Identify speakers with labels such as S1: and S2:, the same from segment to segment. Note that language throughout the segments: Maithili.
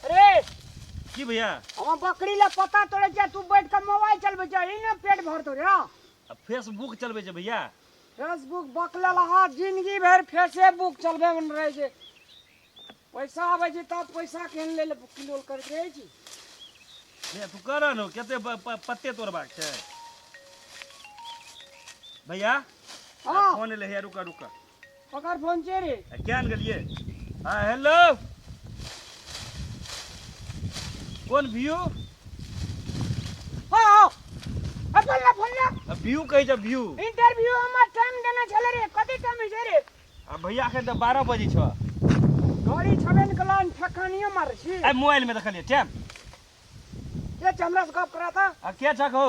S1: अरे की भैया हम बकरी ला पता तोड़े जा तू बैठ के मोबाइल चलबे जा ई ना पेट भर तोड़े आ अब फेसबुक चलबे छै भैया फेसबुक बकला लहा जिंदगी भर फेसबुक चलबे में रहे छै पैसा आबे छै तब पैसा केहन ले ले किलो करैत रहे छी भैया तू कर न कते प- प- पत्ते तोड़बाक छै भैया हाँ फोन एलै है रुका रुका ओकर फोन छै रे आ किया ने गेलिए हां हेलो कोन व्यू हां हां अपन ला फोन ला आ व्यू कहै छै व्यू इंटरव्यू हमर टाइम देना छले रे कते टाइम छै रे आ भैया के त 12 बजे छ गाड़ी छबे ने कलान ठकानियो मार छी आ मोबाइल में देखलिए टाइम ये चमरा से गप करा था आ के छक हो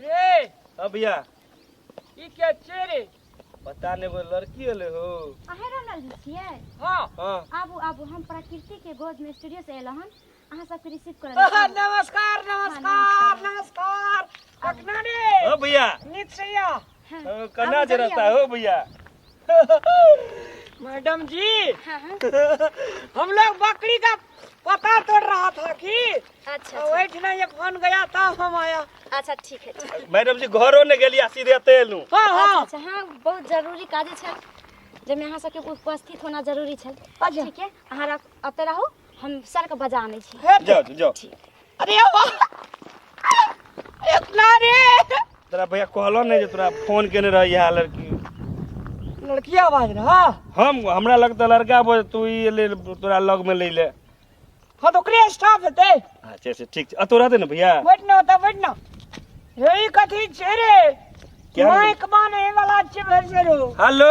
S1: रे हाँ भैया ई के छे रे पता नहीं वो लड़की अले हो अहे रनल जी छियै हां हाँ आबू आबू हम प्रकृति के गोद में स्टूडियो से एलहुँ हन अहाँ सबके रिसीव करल आहा, नमस्कार नमस्कार नमस्कार अगना रे हाँ भैया नित सैया हाँ, ओ, अब कन्ना जे जल्दी रहता आओ। हो भैया मैडम जी हाँ, हाँ, हम लोग बकरी का पता तोड़ रहा था कि अच्छा अच्छा, वही ठिना ये फोन गया था हम आया अच्छा ठीक है ठीक है। मैडम जी घरो ने गेलिया सीधे तेलू हाँ अच्छा हाँ अच्छा हाँ बहुत जरूरी काजे छल जब यहाँ सबके उपस्थित होना जरूरी छल अच्छा। ठीक है अहाँ रख- अते रहू हम सर के बजा आनै छी हे, जाओ जाओ अरे इतना रे तोरा भैया कहलो नहीं जे तोरा फोन केने रही है लड़की लड़की आवाज रहा हम हमरा लगता लड़का बोल तू ये ले तोरा लग में ले ले हाँ तो ओकरे स्टाफ हेते अच्छा अच्छा ठीक आ तोरा दे ना भैया बैठ ना होता बैठ ना यही कथी छे रे क्या? माइक माने वाला छे भर से रो हेलो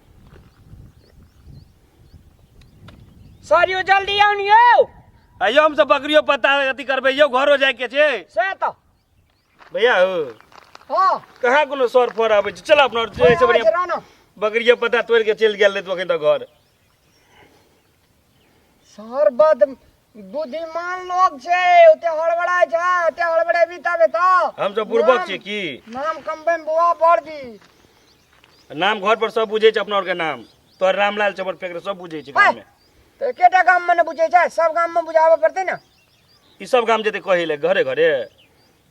S1: सर यौ जल्दी आउ ने यौ आइयो हमसब बकरियो पत्ता अथी करबै यौ घरो जाइके छै से तऽ भैया हो हँ कहाँ कोनो सर फर आबै छै चल अपना जे छै से बढ़िया रहना बकरिया पत्ता तोड़ि के चलि गेल रही तू अखन तक घर सर बद बुद्धिमान लोग छै ओते हड़बड़ाय छै ओते हड़बड़ेबी तबे तऽ हम सब बुड़बक छी की नाम कमबे में बुआ बढ़ जी नाम घर पर सब बुझे छै अपना और के नाम तोहर रामलाल चमर फेंक रहे, सब बुझे छै गाँव में तो एकेटा गाम में ने बुझे छै सब गाम में बुझाबे पड़ते ने ई सब गाम जेते कहे ले घरे घरे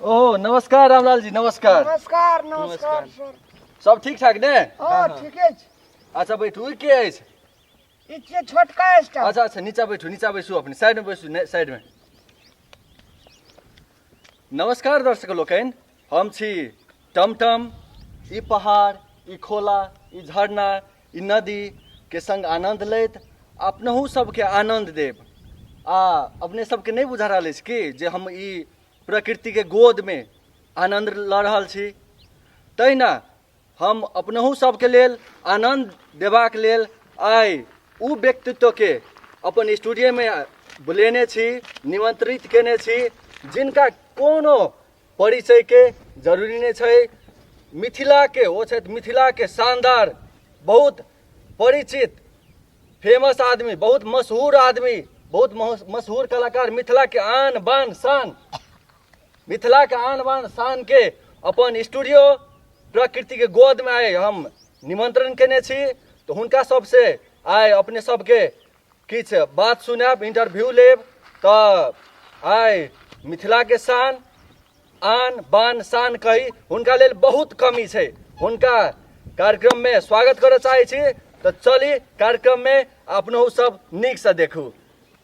S1: ओ नमस्कार रामलाल जी नमस्कार नमस्कार नमस्कार सर सब ठीक ठाक ने हाँ ठीके छै अच्छा बैठू ई के अछि ई छियै छोटका स्टाफ अच्छा अच्छा नीचा बैठू नीचा बैसू अपने साइड में बैसू ने- साइड में नमस्कार दर्शक लोकनि हम छी टमटम ई पहाड़ ई खोला ई झरना ई नदीके सङ्ग आनन्द लैत अपनहु सभके आनन्द देब आ अपने सभके नहि बुझा रहल अछि कि जे हम ई प्रकृतिके गोदमे आनन्द लऽ रहल छी तहिना हम अपनहु सबके लेल आनन्द देबाक लेल आइ ओ व्यक्तित्वके अपन स्टूडियोमे बुलेने छी निमंत्रित केने छी जिनका कोनो परिचयके जरूरी नहि छै मिथिलाके ओ छथि मिथिलाके शानदार बहुत परिचित फेमस आदमी बहुत मशहूर आदमी बहुत मशहूर कलाकार मिथिलाके आन बान शान मिथिला के आन बान शान के अपन स्टूडियो प्रकृति के गोद में आए हम निमंत्रण केने छी तो हुनका सबसे आए अपने सबके किछ बात सुनब इंटरव्यू लेब तो आए मिथिला के शान आन बान शान कही हुनका लेल बहुत कमी छै हुनका कार्यक्रम में स्वागत करय चाहे छी तो चली कार्यक्रम में अपनहु सब नीक से देखू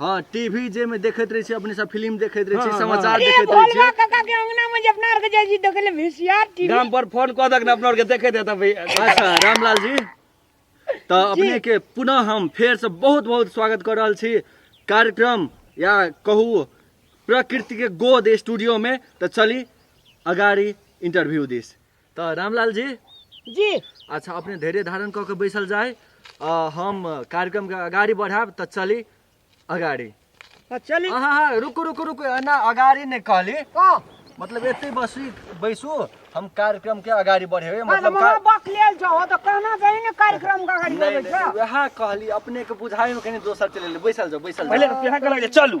S1: हाँ टीवी जे में देखत रहे छी अपने सब फिल्म देखत रहे छी समाचार ए देखत रहे भोलवा छी काका के अंगना में जे अपना आर के जाइ छी देखे ले वीसीआर टीवी गाम पर फोन कऽ दक ने अपना आरके देखे दे तब अच्छा रामलाल जी तो अपने के पुनः हम फेर से बहुत बहुत स्वागत कर रहल छी कार्यक्रम या कहू प्रकृति के गोद स्टूडियो में तो चली अगाड़ी इंटरव्यू दिस तऽ रामलाल जी जी अच्छा अपने धैर्य धारण कऽ के बैसल जाय आ हम कार्यक्रम के अगाड़ी बढ़ाएब तऽ चली अगाड़ी आ चली हाँ हाँ हाँ, रुकू रुकू रुकू एना अगाड़ी नहि कहली कह मतलब एते बसी बैसू हम कार्यक्रम के अगाड़ी बढ़ेबै अरे मतलब महा का- बक लेल जाओ तो कहना गई ने कार्यक्रम का गाड़ी नहीं, में नहीं, वएह कहली अपने के बुझाई में कनी दोसर चले बैसल जाओ बैसल जाओ पहिले रुपया के लगे चलू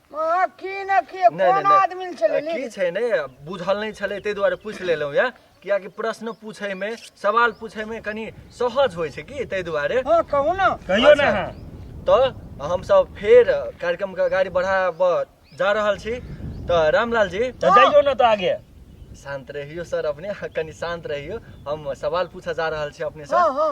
S1: अहाँ की न की नहि, नहि, कोन नहि। आदमी ले छलै की छै ने बुझल नहि छलै ताहि दुआरे पूछि लेलहुँ यऽ कियाकि प्रश्न पूछैमे सवाल पूछैमे कनि सहज होइ छै की ताहि दुआरे हँ कहू ने कहियो ना अच्छा। हाँ तऽ हमसब फेर कार्यक्रमके अगाडि बढ़ाबऽ जा रहल छी तऽ रामलाल जी तो जाइयो ना तो आगे शान्त रहियो सर अपने कनि शान्त रहियो हम सवाल पूछऽ जा रहल छी अपने हँ सर हँ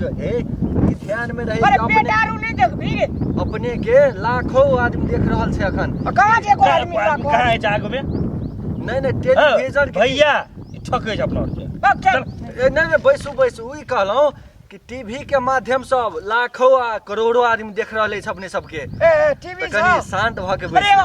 S1: जो है ई ध्यान में रहे अरे कि पेट अपने आरू नहीं देखबी रे अपने के लाखों आदमी देख रहल छै अखन आ कहाँ जे एगो आदमी कहाँ लागल है जाग में नहीं नहीं टेलीविजन के भैया ई ठकै छै अपना आरके बक चल ए, नहीं नहीं बैसू बैसू ई कहलहुँ कि टीवी के माध्यम से लाखों आ करोड़ों आदमी देख रहल अछि अपने सबके ए टीवी तऽ कनी शांत भऽ के अरे बैसू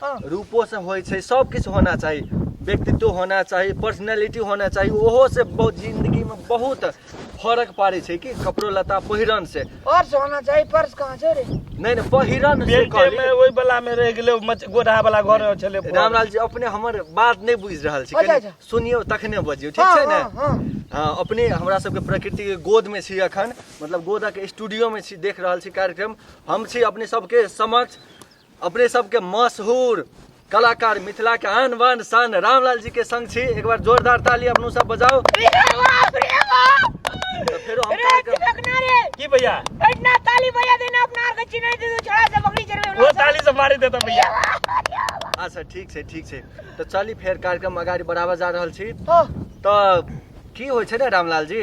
S1: हँ। रूपो से होइ छै सब किछु होना चाही व्यक्तित्व होना चाही पर्सनैलिटी होना चाही ओहो से बहुत जिंदगी में बहुत फर्क पड़ै छै कि कपड़ो लत्ता पहिरन से और से होना चाहिए पर्स कहाँ से रे नहि नहि पहिरन से बेल्टे कहली। में ओहि बला में रह गेलै मच- गोढ़ा बला घर छलै रामलाल जी अपने हमर बात नहि बुझि रहल छी अच्छा, कनि अच्छा। सुनियौ तखने बजियौ ठीक हाँ, छै ने हाँ, हाँ। हाँ, अपने हमरा सबके प्रकृति के गोद में छी अखन मतलब गोदक स्टूडियो में छी देख रहल छी कार्यक्रम हम छी अपने सबके समक्ष अपने सबके मशहूर कलाकार मिथिला के आन बान शान रामलाल जी के संग छी एक बार जोरदार ताली अपनो सब बजाओ तो फेरो हम कार्यक्रम की भैया वो ताली से मारी देता भैया अच्छा ठीक छै ठीक छै तो चली फेर कार्यक्रम अगाडि बढ़ावा जा रहल छी तो की होइ छै ने रामलाल जी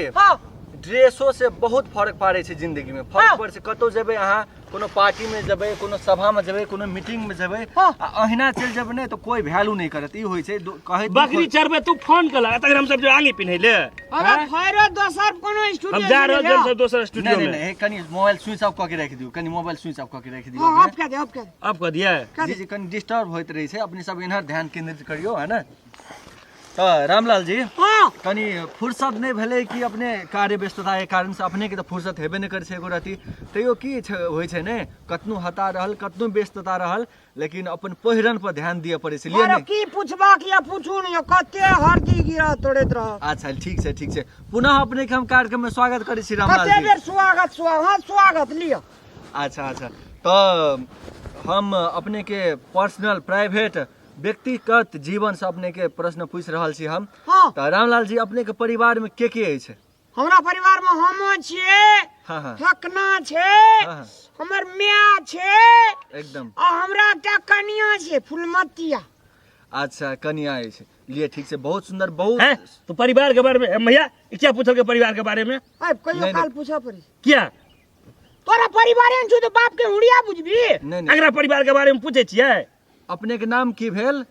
S1: ड्रेसो से बहुत फर्क पाड़े छै जिंदगी में फर्क हाँ। पड़े छै कतौ जेबै अहाँ कोनो पार्टी में जब कोनो सभा में जब कोनो मीटिंग में जब हाँ। अहिना चल जब नहीं तो कोई वैल्यू नहीं करत ई होई छै कहे बकरी चरबे तू फोन कर लगा तक हम सब आगे पिन्हे ले अरे भैरो हाँ? दोसर कोनो स्टूडियो हम जा रहे हम सब दोसर स्टूडियो में नहीं कनी मोबाइल स्विच ऑफ करके रख दियो कनी मोबाइल स्विच ऑफ करके रख दियो ऑफ कर दे ऑफ कर ऑफ कर दिया जी जी कनी डिस्टर्ब होइत रही छै अपने सब इनहर ध्यान केंद्रित करियो है ना तऽ रामलाल जी हाँ कनि फुर्सत नहि भेलै कि अपने कार्य व्यस्तता के कारण से अपने के तऽ फुर्सत हेबे नहि करै छै एको रति तैयो की छै होइ छै ने कतनो हता रहल कतनो व्यस्तता रहल लेकिन अपन पहिरन पर ध्यान दिअ पड़ै छै लिअ ने की पूछबाक या पूछू ने कते हरदी गिरा तोड़ैत रह अच्छा ठीक छै ठीक छै पुनः अपने के हम कार्यक्रम में स्वागत करै छी रामलाल कते जी बेर स्वागत स्वागत हाँ, स्वागत लिअ अच्छा अच्छा तऽ हम अपने के पर्सनल प्राइवेट व्यक्तिगत जीवन से अपने के प्रश्न पूछ रहल छी हम हाँ तो रामलाल जी अपने के परिवार में के के अछि हमरा परिवार में हमो छिए हाँ हाँ हकना छे हाँ, हाँ। हमर माय छे एकदम आ हमरा एकटा कनिया छे फुलमतिया अच्छा कनिया अछि लिए ठीक से बहुत सुंदर हैं बहुत तो परिवार के बारे में हम भैया ई क्या पूछल के परिवार के बारे में अब कहियो नहीं, काल नहीं। पूछा पड़ी क्या तोरा परिवार में छु तो बाप के हुड़िया बुझबी नहीं नहीं अगला परिवार के बारे में पूछे छियै अपने के नाम की भेल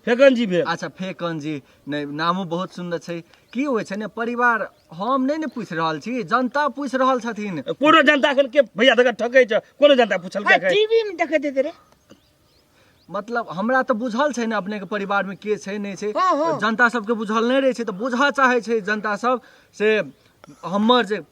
S1: फेकन जी भेल अच्छा फेकन जी नहीं नामो बहुत सुंदर छै की होइ छै ने परिवार हम नहीं ने पूछ रहल छी जनता पूछ रहल छथिन कोनो जनता अखन के भैया तक ठकै छै कोनो जनता पूछल के टीवी में देखै देते रे मतलब हमरा तऽ बुझल छै ने अपने के परिवार में के छै नहीं छै हाँ, हाँ। जनता सबके बुझल नहीं रहे छै तऽ बुझऽ चाहे छै जनता सब से हमर जे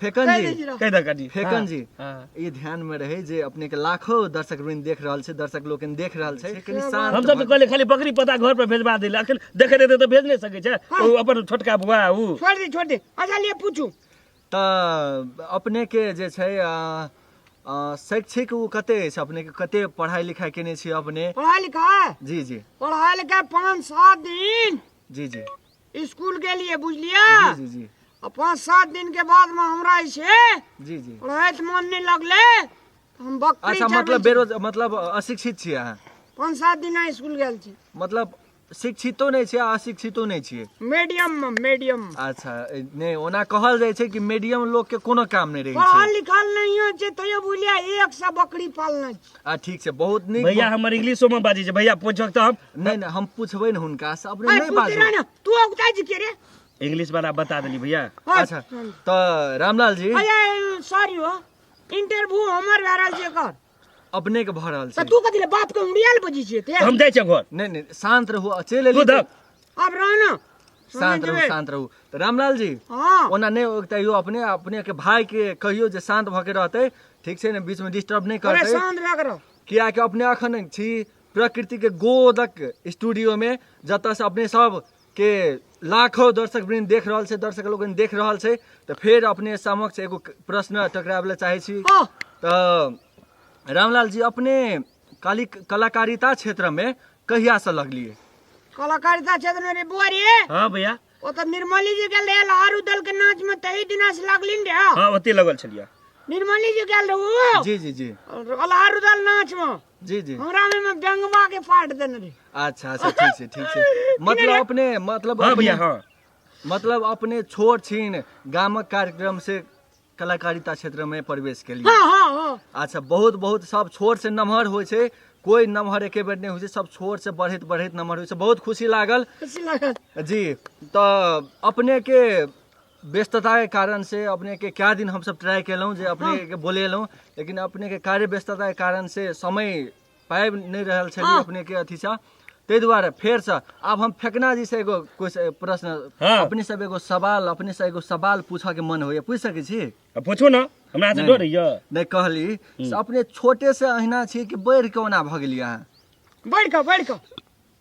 S1: फेकन जी कहि द कनी फेकन जी ई ध्यान में रहे जे अपने के लाखों दर्शक वृंद देख रहल छै दर्शक लोग देख रहल छै कनी शांत हम सब तो कहले खाली बकरी पता घर पर भेजवा देले अखन देखे रहते तो भेज नहीं सके छै ओ अपन छोटका बुआ उ छोड़ दे छोड़ दे अच्छा लिए पूछू त अपने के जे छै शैक्षिक ओ कते अछि अपने के कते पढ़ाई लिखाई केने छी अपने पढ़ाई लिखाई जी जी पढ़ाई लिखाई पाँच सात दिन जी जी स्कूल के लिए बुझलिया जी जी जी और पाँच सात दिन के बाद में हमरा इसे जी जी रहत मन नहीं लगले तो हम बकरी अच्छा चरबै मतलब छी। बेरोज मतलब अशिक्षित छियै अहाँ पाँच सात दिन स्कूल गेल छी मतलब शिक्षितो नहि छियै आ अशिक्षितो नहि छियै मीडियम में मीडियम में अच्छा ए, नहि ओना कहल जाइ छै कि मीडियम लोग के कोनो काम नहि रहै पढ़ल छै लिखल नहीं हो छै तैयो बुझलिया एक सौ बकरी पालने छी आ ठीक छै बहुत नीक भैया हमर इंग्लिशो में बाजी छै भैया पूछक तऽ हम नहीं नहीं हम पूछबे न हुनका से अपने अरे नहीं पूछ बाजू रहा ना तू अगुता जी के रे इंग्लिश वाला बता देली भैया और- अच्छा तो रामलाल जी अरे सॉरी हो इंटरव्यू हमर भए रहल छै कर अपने के भऽ रहल तऽ छै तू कथी ले बाप के उड़ियाल बजी छियै ते हम जाइ छियै घर नहीं नहीं शांत रहू आ चलि तू एली धक आब रह ना शांत रहू शांत रहू तऽ रामलाल जी हां ओना नहि ओ तैयो अपने अपने के भाई के कहियो जे शांत भऽ के रहतै ठीक छै ने बीच में डिस्टर्ब नहि करतै परेशान रह करो कियाकि अपने अखन छी प्रकृतिक गोदक स्टूडियोमे जतयसँ अपने सबके लाखो दर्शक वृन्द देख रहल छै दर्शक लोग देख रहल छै तऽ फेर अपने समक्ष एगो प्रश्न टकराबै लए चाहै छी तऽ रामलाल जी अपने काली कलाकारिता क्षेत्रमे कहियासँ लगलियै कलाकारिता क्षेत्रमे रे बुआ रे हँ भैया ओ तऽ निर्मली जी गेल रहै लहर उदल के नाच में तही दिना से लगली ने रहै हाँ ओते लगल छलियै निर्मली जी गेल रहू जी जी जी लहर उदल नाच में जी जी हमरा में में गंगवा के पाट देने रही अच्छा अच्छा ठीक छै ठीक छै मतलब अपने मतलब हाँ अपने भैया हाँ मतलब अपने छोट छीन गामक कार्यक्रम से कलाकारिता क्षेत्र में प्रवेश के लिए हाँ हाँ हाँ अच्छा बहुत बहुत सब छोट से नमहर होइ छै कोई नमहर एके बेर नहि होइ छै सब छोट से बढ़ैत बढ़ैत नमहर होइ छै बहुत खुशी लागल खुशी लागल जी तऽ अपने के व्यस्तता के कारण से अपने के क्या दिन हम सब ट्राई केलहुँ जे अपने के बोलेलहुँ लेकिन अपने के कार्य व्यस्तता के कारण से समय पाबि नहि रहल छलियै हाँ। अपने के अथी सँ ताहि दुआरे फेर से आब हम फेकना जी से एगो कुछ प्रश्न हाँ। अपने सब एगो सवाल अपने से एगो सवाल पूछऽ के मन होइए पूछि सकै छी आ पूछू ने हमरा से डर यऽ नहि कहली से अपने छोटे से अहिना छी कि बढ़ि के ओना भऽ गेलियै अहाँ बढ़ कऽ बढ़ कऽ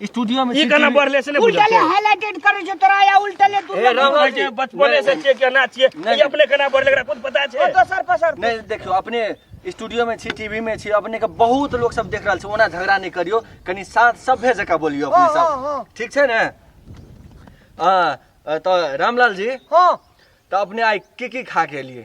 S1: स्टूडियो में ई केना बढ़ले से नहि बुझल उल्टले हाइलाइटेड करे छो तोरा या उल्टले तू ए, राम- छै। जे बचपने से छियै केना छियै नहि। ई अपने केना बढ़ले एकरा खुद पता छै तो सर पसर नहीं देखियो अपने स्टूडियो में छी टीवी में छी अपने के बहुत लोग सब देख रहल छै ओना झगड़ा नहीं करियो कनी साथ सभ्य जका बोलियो अपने हाँ, हाँ, सब हाँ। ठीक छै ने हाँ तो रामलाल जी हां तो अपने आई की की खा के लिए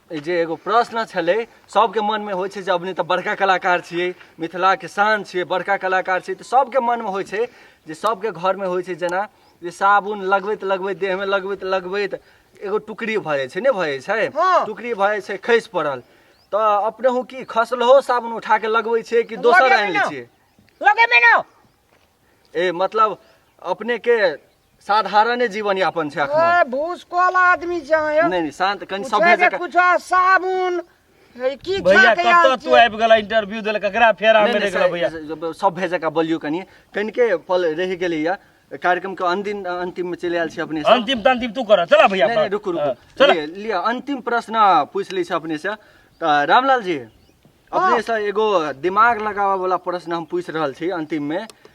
S1: ई जे एगो प्रश्न छलै सबके मनमे होइ छै जे अपने तऽ बड़का कलाकार छियै मिथिलाके शान छियै बड़का कलाकार छियै तऽ सबके मनमे होइ छै जे सबके घरमे होइ छै जेना जे साबुन लगबैत लगबैत देहमे लगबैत लगबैत एगो टुकड़ी भऽ जाइ छै नहि भऽ जाइ छै हँ। टुकड़ी भऽ जाइ छै खसि पड़ल तऽ अपनेहु की खसलहो साबुन उठा कऽ लगबै छियै कि दोसर लगेबै आनि लै ने। छियै लगेबै ने ए मतलब अपनेके साधारणे जीवन यापन छै अखन ए भूसकोल आदमी छै अहाँ नै नै शांत कन सब पूछे भेज के कुछ साबुन है की खा भैया के आयल कतऽ तू छियै? आबि गेला इंटरव्यू देला ककरा फेरा में रह गेला भैया सब भेज के बोलियो कनी कन के पल रह गेलै या कार्यक्रम के अंतिम अंतिम में चले आयल छै अपने सब अंतिम तंतिम तू कर चला भैया नहीं नहीं रुकू रुकू हाँ, चला लिए लिए अंतिम प्रश्न पूछ ली छै अपने से तऽ रामलाल जी अपने से एगो दिमाग लगाबऽ वाला प्रश्न हम पूछ रहल छी अंतिम में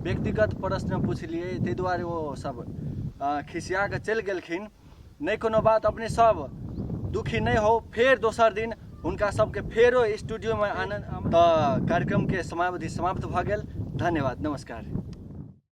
S1: व्यक्तिगत प्रश्न पुछलियै ताहि दुआरे ओ सब खिसिया कऽ चलि गेलखिन नहि कोनो बात अपने सब दुखी नहि हो फेर दोसर दिन हुनका सबके फेरो स्टूडियोमे आनन्द तऽ कार्यक्रमके समावधि समाप्त भऽ गेल धन्यवाद नमस्कार